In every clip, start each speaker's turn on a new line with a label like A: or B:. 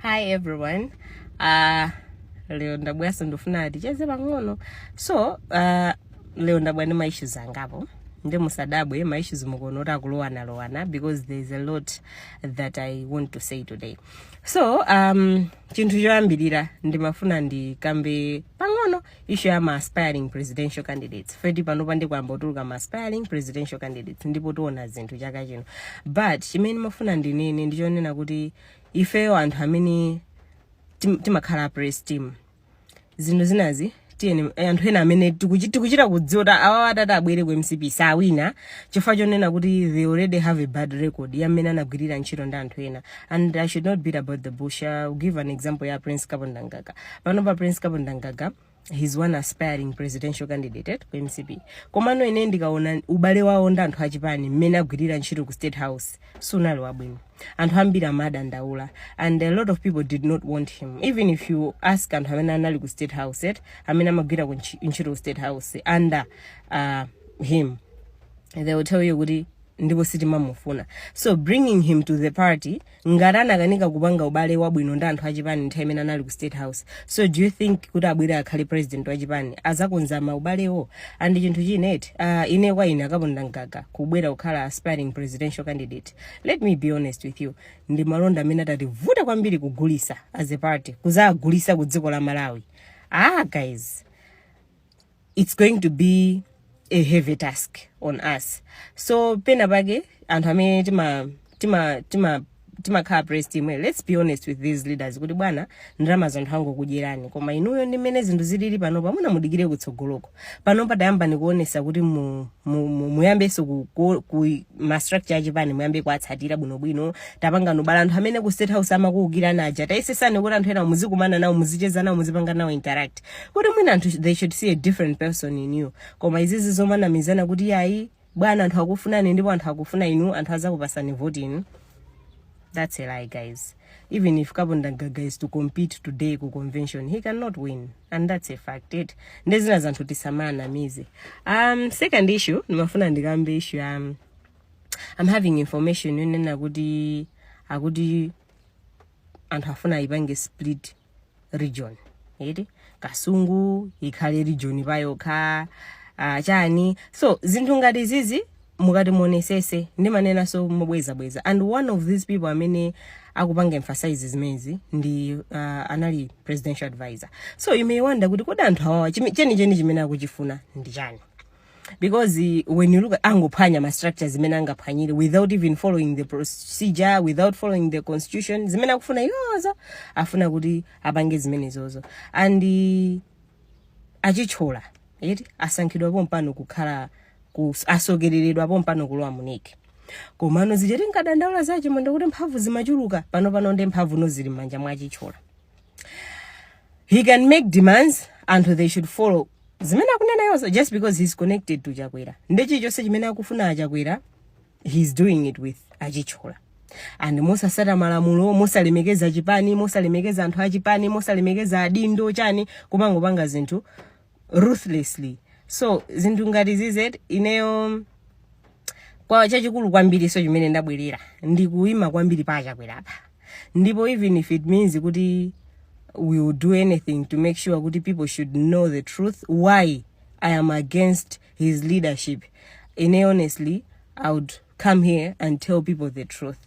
A: hi everyone uh, leo ndabweranso ndifuna ticheze pang'ono so uh, leo ndabwera ndi ma issues angapo ndi musadabwe ma issues mukuona kuti akulowanalowana because there is a lot that i want to say today so um, chinthu choyambirira ndimafuna ndikambe pang'ono issue ya ma aspiring presidential candidates eti panopa ndipo ayamba kutuluka ma aspiring presidential candidates ndipo tiona zinthu chaka chino but chimene ndimafuna ndinene ndichonena kuti ifeyo anthu amene tim- timakhala praise team zinthu zinazi tiyeni eh, anthu ena amene tikuchi- tikuchita kudziwa kuti awawa atati abwere ku mcp sawina chifukwa chonena kuti they already have a bad record ya mmene anagwirira ntchito ndi anthu ena and i should not beat about the bush I'll give an example ya prince kapondamgaga panopa prince kapondamgaga he's one aspiring presidential candidate eti ku mcp komano ine ndikaona ubale wawo ndi anthu achipani mmene amagwirira ntchito ku state house siunali wabwino anthu ambiri amadandaula and a lot of people did not want him even if you ask anthu amene anali ku state house eti amene amagwira ku ntchi- ntchito ku state house under uh, him they will tell you kuti ndipo sitimamufuna so bringing him to the party ngati anakanika kupanga ubale wabwino ndi anthu achipani nthawi imene anali ku state house so do you think kuti abwere akhale president wachipani azakonza maubalewo and chinthu china eti uh, ine kwa ine a kapondamgaga kubwera kukhala aspiring presidential candidate let me be honest with you ndi malonda amene atativute kwambiri kugulisa as a party kuzagulisa ku dziko la malawi ah guys it's going to be a heavy task on us so penapake anthu amene tima tima tima timakhala praise team eh, let's be honest with these leaders kuti bwana ndalamazi anthu angokudyerani koma inuyo ndi mmene zinthu zilili panopa muna mudikire kutsogoloko panopa tayambani kuonesa kuti mu, mu, mu, muyambenso ku, ku, ku ma structure achipani muyambe kuatsatira bwinobwino tapangani ubale anthu amene ku state house amakuukirani aja tayesesani kuti anthu ena muzikumana nawo muzicheza nawo muzipanga nawo interact kuti mwina anthu they should see a different person in you koma izizi zomanamizana kuti yayi bwana anthu akukufunani ndipo anthu akufuna inu anthu azakupasani vote inu that's a lie guys even if kapondamgaga is to compete today ku convention he cannot win and that's a fact eti nde zinazi anthu tisamawanamize um second issue ndimafuna ndikambe issue ya um, i'm having information yonena kuti akuti anthu afuna aipange split region eti kasungu ikhale region payokha uh, chani so zinthu ngati zizi mukati muonesese ndimanenaso mobwezabweza and one of these people amene akupanga emphasize zimenezi ndi uh, anali presidential advisor so you may wonder kuti kodi anthu awawa chimi- chenicheni chimene akuchifuna ndi chani because eh, when you look at angophwanya ma structures zimene angaphwanyire without even following the procedure without following the constitution zimene akufuna iwozo afuna kuti apange zimenezozo and eh, achitchola eti asankhidwa pompano kukhala ku- atsogoleredwa pompano kulowa mu NEC komano zichati nkadandaula zache mwenda kuti mphamvu zimachuluka panopano ndiye mphamvu now zili m'manja mwa achitchola he can make demands and they should follow zimene akunena iwozo just because he's connected to chakwera nde chilichonse chimene akufuna achakwera he's doing it with achitchola and mosasata malamulo mosalemekeza chipani mosalemekeza anthu achipani mosalemekeza adindo chani kumangopanga zinthu ruthlessly so zinthu ngati izi eti ineyo kwa chachikulu kwambiri so chimene ndabwerera ndikuima kwambiri pa achakwera apa ndipo even if it means kuti we will do anything to make sure kuti people should know the truth why i am against his leadership ine honestly i would come here and tell people the truth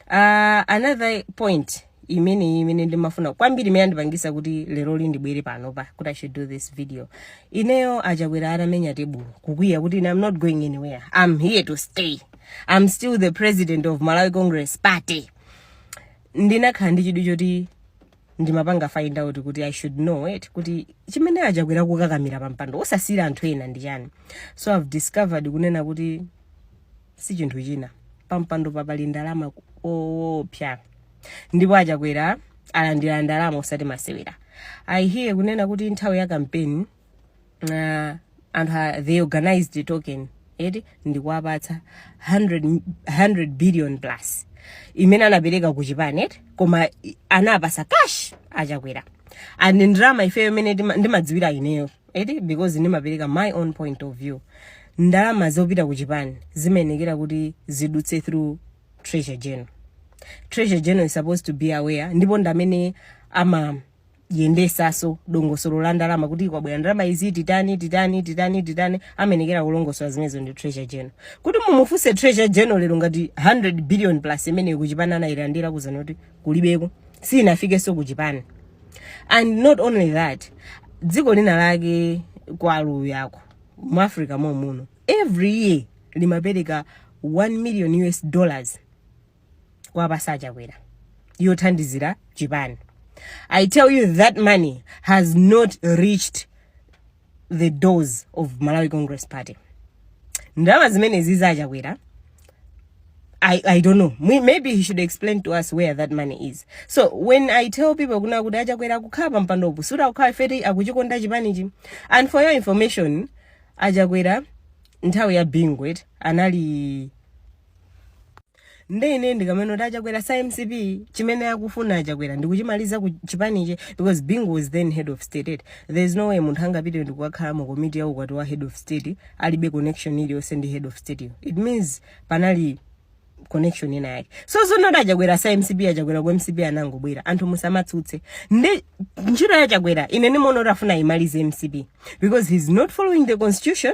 A: uh, another point imene imene ndimafuna kwambiri imene andipangisa kuti leroli ndibwere panopa kuti i should do this video ineyo achakwera atamenya tebulo kukwiya kuti ine i'm not going anywhere i'm here to stay i'm still the president of malawi congress party ndinakhala ndi chidwi choti ndimapanga find out kuti i should know it kuti chimene achakwera kukakamira pa mpando osasiyira anthu ena ndi chani so i've discovered kunena kuti si chinthu china pa mpando papali ndalama zoopsa ndipo achakwera alandira ndalama osati masewera i hear kunena kuti nthawi ya kampeni uh, anthu a- they organized the token eti ndikuwapatsa 100, 100 billion plus imene anapereka ku chipani eti koma i- anapasa cash achakwera and ndalama ifeyo imene ndima- ndimadziwira ineyo eti because ndimapereka my own point of view ndalama zopita ku chipani zimayenekera kuti zidutse through treasurer general treasurer general is supposed to be aware ndipo ndamene ama yendesaso dongosolo la ndalama kuti kwabwera ndalama izi titani titani titani titani amenekera kulongosola zimenezo ndi treasurer general kuti mumufunse treasurer general lero ngati 100 billion plus imeneyo kuchipani anayilandira akuuzani kuti kulibeko sinafikenso kuchipani and not only that dziko lina lake kwa aluya uko mu africa momuno every year limapereka 1 million us dollars kuwapasa a Chakwera yothandizira chipani i tell you that money has not reached the doors of malawi congress party ndalama zimenezi za a Chakwera I, I don't know. Maybe he should explain to us where that money is. So when I tell people kunena kuti a Chakwera kukhala pa mpandopo sikuti akukhala chifukwa choti akuchikonda chipanichi. And for your information, a Chakwera nthawi ya Bingu eti anali nde ine ndikamanena kuti a Chakwera si a mcp chimene akufuna a Chakwera ndikuchimaliza chipanichi because bingu was then head of state eti there is no way munthu angapite ndikukakhala mu komiti ya ukwati wa head of state alibe connection iliyonse ndi head of state yo it means panali connection ina yake so zonena kuti a Chakwera si a mcp a Chakwera ku mcp anangobwera anthu musamatsutse nde ntchito ya a Chakwera ine ndimaona kuti afuna ayimalize mcp because he's not following the constitution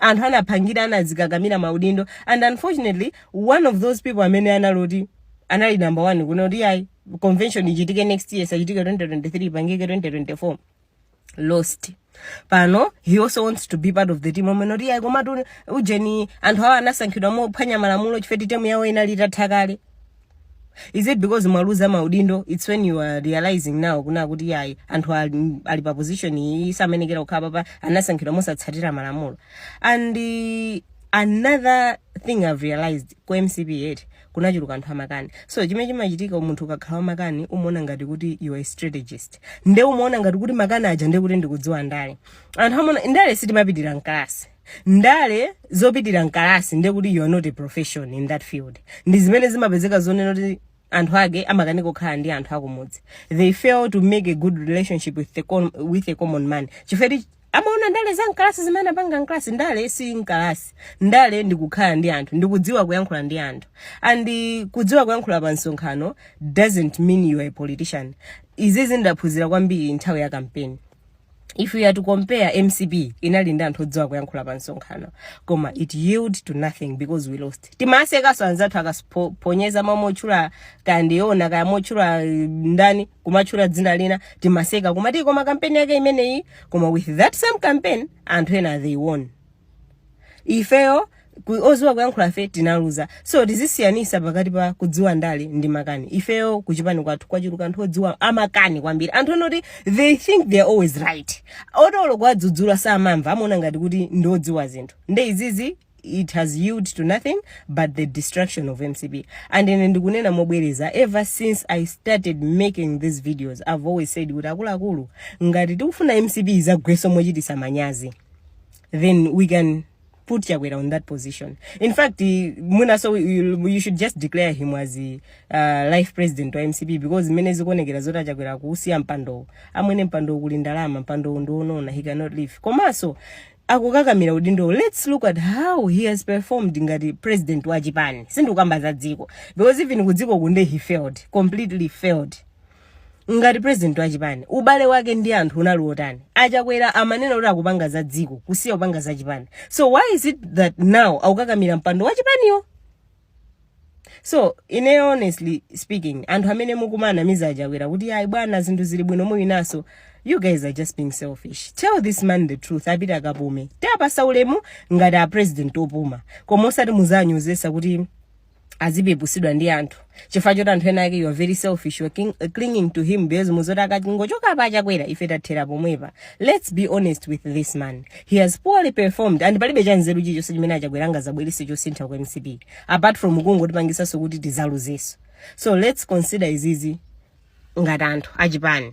A: anthu anapangira anazikakamira maudindo and unfortunately one of those people amene analowa eti anali number one kunena kuti ayi convention ichitike next year isachitike 2023 ipangike 2024 lost pano he also wants to be part of the team omanena kuti ayi komatu ujeni anthu awa anasankhidwa mophwanya malamulo chifukwa choti temu yawo inali itatha kale is it because mwaluza maudindo its when you are realizing now kunena kuti yayi anthu ali, ali pa position iyi samayenekera kukhala apapa anasankhidwa mosatsatira malamulo and uh, another thing i've realized ku mcp eti kunachuluka anthu amakani so chimene chimachitika munthu ukakhala wamakani umaona ngati kuti you are a strategist nde umaona ngati kuti makani aja nde kuti ndikudziwa ndale anthu amaona ndale sitimapitira mkalasi ndale zopitira mkalasi ndiye kuti you are not a profession in that field ndi zimene zimapezeka zonena kuti anthu ake amakanika kukhala ndi anthu akumudzi they fail to make a good relationship with a common man chifukwa choti amaona ndale za mkalasi zimene anapanga mkalasi ndale si mkalasi ndale ndi kukhala ndi anthu ndi kudziwa kuyankhula ndi anthu and kudziwa kuyankhula pa msonkhano doesn't mean you are a politician izizi ndaphunzira kwambiri nthawi ya kampeni if we are to compare mcp inali ndi anthu odziwa kuyankhula pa msonkhano koma it yield to nothing because we lost timawasekaso anzathu akaphonyeza momwe otchula kaya ndiona kaya motchula eh, ndani kumatchula dzina lina timaseka koma eti koma kampeni yake imeneyi koma with that same campaign anthu ena they won ifeyo oziwa kuyankhula fe tinaluza so tizisiyanisa pakati pa kudziwa ndale ndi makani ifeyo kuchipani kwathu kwachuluka anthu odziwa amakani kwambiri anthu onoti they think they are always right oti olo kuwadzudzula samamva amaona ngati kuti ndi odziwa zinthu nde izizi it has yield to nothing but the destruction of mcp and ine ndikunena mobwereza ever since i started making these videos i've always said kuti akuluakulu ngati tikufuna mcp izagweso mochitisa manyazi then we can put Chakwera on that position. In fact, Muna, so you, you should just declare him as the uh, life president wa MCP because mene zikuonekera zoti a Chakwera kuusiya mpando amwene mpandowu kuli ndalama mpandowu ndionona he cannot leave komanso akukakamira udindowu let's look at how he has performed ngati president wa chipani sindikukamba za dziko because even kudziko kunde he failed completely failed ngati president wa chipani ubale wake ndi anthu unali wotani achakwera amanena kuti akupanga za dziko kusiya kupanga za chipani so why is it that now akukakamira mpando wa chipaniwo so ine honestly speaking anthu amene mukumanamiza achakwera kuti ayi bwana zinthu zili bwino muwinaso you guys are just being selfish tell this man the truth apite akapume tawapatsa ulemu ngati a president opuma koma osati muzawanyozetse kuti azipeputsidwa ndi anthu chifukwa choti anthu ena ake you are very selfish you are king, uh, clinging to him because mukudziwa zoti akatingochokapo achakwera ife tathera pomwepa let's be honest with this man he has poorly performed and palibe chanzeru chilichonse chimene achakwera angazabwerese chosintha ku mcp apart from kungotipangisanso kuti tizaluzeso so let's consider izizi ngati anthu achipani